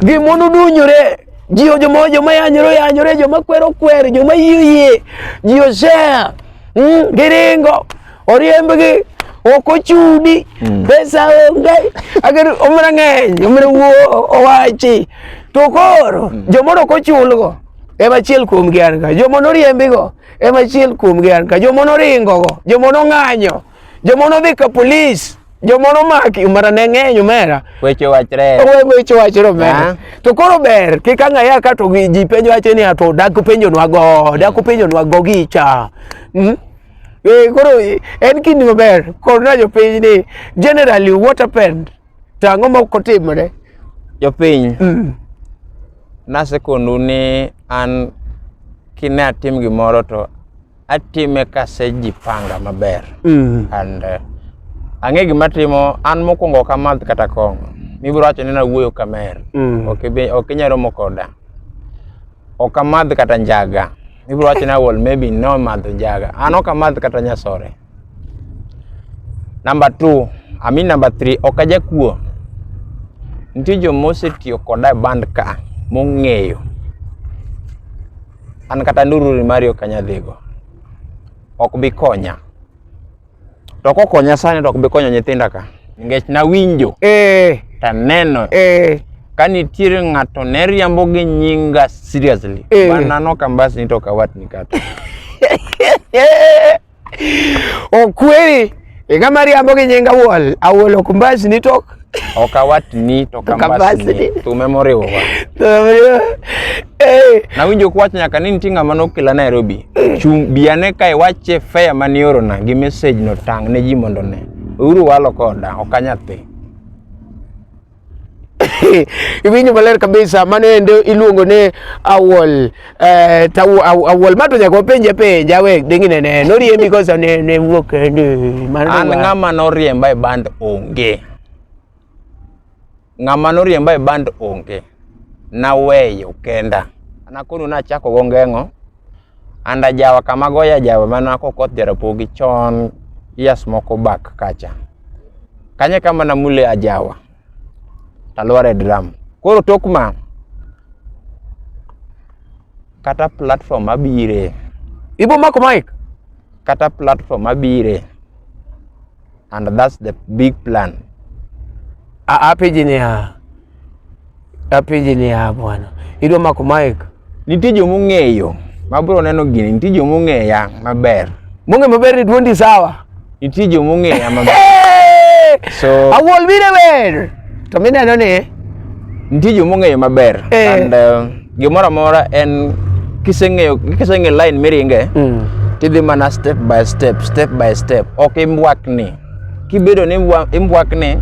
gimono dunyore ji joma joma yanyore yanyore joma kwero kwer joma yie yie ji osea mm, giringo oriembgi ok ochudi mm. pesa onge agar omra ng'eny omra wuo owachi to koro mm. jomoro ok ochulgo ema achiel kuomgi an ka joma noriembigo Ema achiel kuomgi an ka joma noringo go, joma nong'anyo, joma nodhi ka polis, joma nomaki umara ne ng'eny umera. Weche wachre. Owe weche wachre umera. To koro ber kik ang'aya ka to gi- ji penjo wacho ni ato dak penjonwa go, dak penjonwa go gicha. Mm? Eh, koro eh, en kinde maber koro na jopiny ni generally what happened To ang'o ma ok otimre? Jopiny, mm. nasekondu ni an kine atim gimoro to atime kasejipanga maber mm. and uh, ang'e gima timo an mokwongo ok amadh kata kong'o mibiro wacho ni nawuoyo kamer mm. ok inyalo romo koda ok amadh kata njaga mibiro wacho ni awol maybe no madho njaga an ok amadh kata nyasore Number two, I mean number three, ok ajakuo. Nitie joma osetiyo koda e band ka mong'eyo. An kata ndururi mari ok anyal dhigo. Ok bi konya. To kokonya sani to ok bi konyo nyithinda ka. Nikech nawinjo. Eh. Taneno. Eh. Ka nitiere ng'ato ne riambo gi nyinga seriously. Eh. Banano kambasni to kawatni kata. Okweri iga mariambo gi nyinga wuol awuol ok mbasni to Ok awachni to Tok ambasni. kambasni. Thume moriwowa. Eh, Nawinjo kwach nyaka ni nitie ng'ama nokela Nairobi. Chung' biane ka iwache fare mane iorona gi message no tang' ne ji mondo one. Uru walo koda, ok anyathi. iwinjo maler kabisa mano ende iluongo ni awol eh, tawu aw- awol ma to nyaka wapenje penja we dingine ne noriembi kosa ne ne wuok kende mano an wa- ng'ama noriemba e band onge ng'ama noriemba e band onge naweyo kenda nakonu nachako go ngeng'o and ajawa kama goyo ajawa mana kokoth jarapogi chon years moko back kacha kanye kama namule ajawa talware drum koro tok ma kata platform abire ibo mako mic kata platform abire and that's the big plan. Apeji ni ha apeji ni ha bwana, idwa mako mic, nitie joma ong'eyo ma bro neno gini, nitie joma ong'eya maber, mong'e maber ni duondi sawa, nitie joma ong'eya maber so awol bire wer to mineno ni Nitie joma ong'eyo maber eh. and uh, gimoro amora en kiseng'eyo kiseng'e line miringe mm. tidhi mana step by step step by step ok imbwakni kibedo ni imbwakni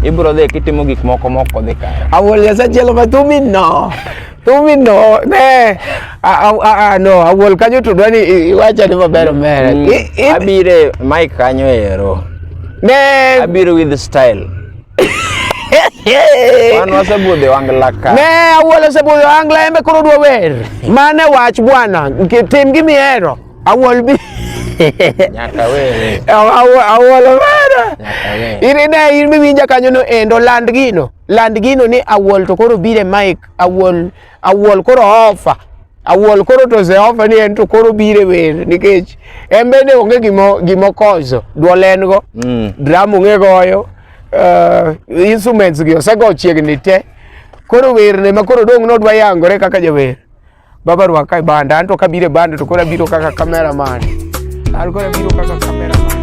ibro dhi kitimo gik moko moko dhi kare awol yasachielo ma thumi no thumi no ne no awol kanyo tudwa ni iwacha ni maber omere mm. abire mike kanyo ero ne abiro with style Wan wasebudhi wangla ka. Ne awuola osebudhi wangla embe koro dwa wer. Mane wach bwana, tim gimi hero. Awuol bi. Nyaka wer. Awuol wer. Iri ne in miwinja kanyo no endo land gino. Land gino ni awuol to koro bire mic awuol Awuol koro ofa. Awuol koro to Zeofa ni en to koro bire wer nikech en bende onge gimo gimo kozo duol en go mm. drum onge goyo uh, instruments gi osego chiegni te koro wer ne ma koro dong nodwa yangore kaka jawer baba rwaka e banda anto kabire banda to koro abiro kaka cameraman an koro abiro kaka cameraman